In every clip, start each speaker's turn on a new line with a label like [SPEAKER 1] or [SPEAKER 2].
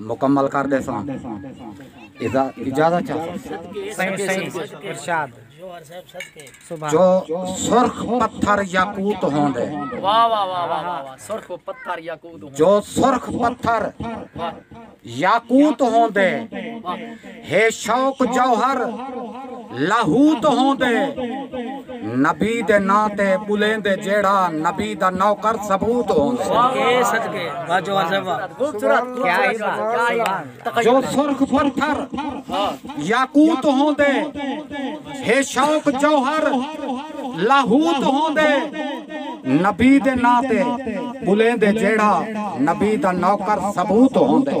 [SPEAKER 1] مکمل کر ڈیساں ادا اجازت چاہساں جو سرخ پتھر یاقوت ہون دے
[SPEAKER 2] جو سرخ پتھر
[SPEAKER 1] یاقوت ہون دے ہے شوق جوہر لاہوت ہوندے نبی دے ناں تے ٻلیندے جیڑھا نبی دا نوکر ثبوت ہوندے
[SPEAKER 3] جو سرخ
[SPEAKER 1] پتھر یاقوت ہوندے ہے شوق جوہر لاہوت ہوندے نبی دے ناں تے ٻلیندے جیڑھا نبی دا نوکر ثبوت ہوندے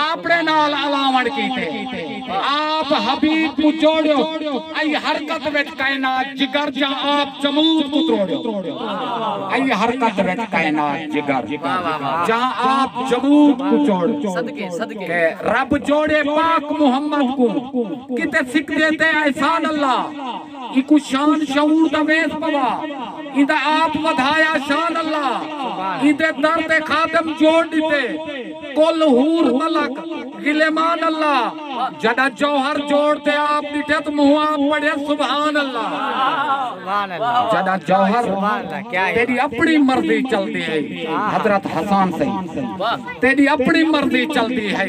[SPEAKER 1] آپڑے نال الاوݨ کیتے آپ حبیب کوں جوڑیو ائی حرکت وچ کائنات جگر جا آپ جمود کوں تروڑیو ائی حرکت وچ کائنات جگر جا آپ جمود کوں جوڑیو کہ رب جوڑے پاک محمد کوں کیتے سکدے تے احسان اللہ ایکوں شان شعور دا ویس پوا ایندا آپ ودھایا شان اللہ ایندے در تے خادم جوڑ ڈتے کل حور ملک غلیمان اللہ جڈا جوہر جوڑ تے آپ ڈٹھے تو منہ آپ پڑھے سبحان اللہ جڈا جوہر تیری اپنی مرضی چلتی ہے حضرت حسان سے تیری اپنی مرضی چلتی ہے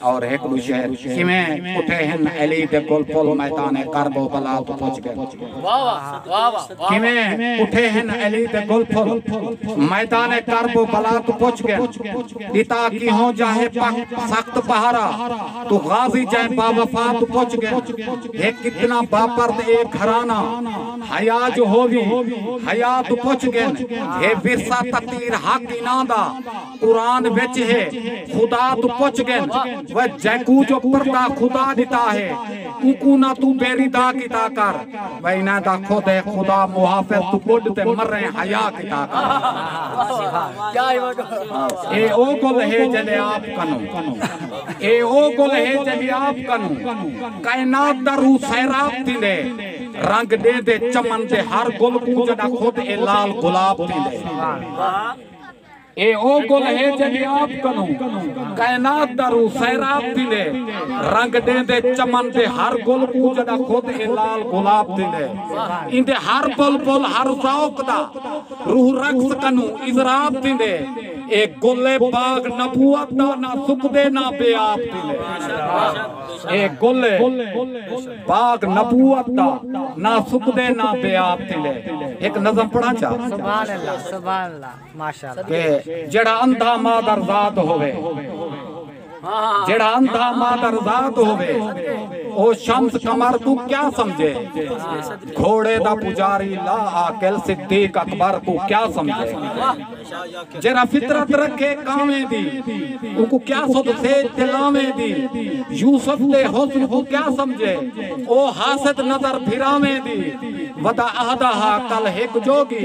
[SPEAKER 1] اور ہک ڈو شہر کیویں اٹھے ہن علی دے کول پل میدان کرب و بلا توں پچ گئے کیویں اٹھے ہن علی دے کول پل میدان کرب و بلا توں پچ گئے دیتا کی ہوں جاہے پک سخت پہارا تو غازی جائے با وفا توں پچ گئے ہک اتنا با پرد اے گھرانا حیاء جو ہووی حیاء توں پچ گئے ہے ورثہ تطیر حق انہاں دا قرآن وچ ہے خدا تو پچھ گن و جیکو جو پردہ خدا دیتا ہے اکو نہ تو بیری دا کتا کر و انہ دا خود ہے خدا محافظ تو بڑھ تے مر رہے حیاء کتا کر اے او گل ہے جلے آپ کنو اے او گل ہے جلے آپ کنو کائنات دا روح سیراب دی لے رنگ دے دے چمن دے ہر گل کو جڑا خود اے لال گلاب دی لے اے او گل ہے جیہڑی آپ کنوں کائنات دا روح سیراب تھیندے۔ رنگ ݙیندے چمن دے ہر گل کوں جݙاں خود اے لال گلاب تھیندے۔ ایندے ہر بلبل ہر ذوق دا روح رقص کنوں اضراب تھیندے۔ اے گل ہے باغ نبوت دا نہ سکدے نہ بے آب تھیندے۔ اے گل ہے باغ نبوت دا نہ سکدے نہ بے آب تھیندے۔ ہک نظم پڑھاں چا؟
[SPEAKER 3] کہ جیڑھا
[SPEAKER 1] اندھا مادر زاد ہووے جیڑھا اندھا مادر زاد ہووے او شمس قمر کوں کیا سمجھے گھوڑے دا پجاری لا عاقل صدیق اکبر کوں کیا سمجھے جیڑھا فطرت رکھے کاویں دی او کو کیا سد سیج تے لاویں دی یوسف دے حسن کو کیا سمجھے او حاسد نظر پھراویں دی ودا اہدا ہا کل ہک جوگی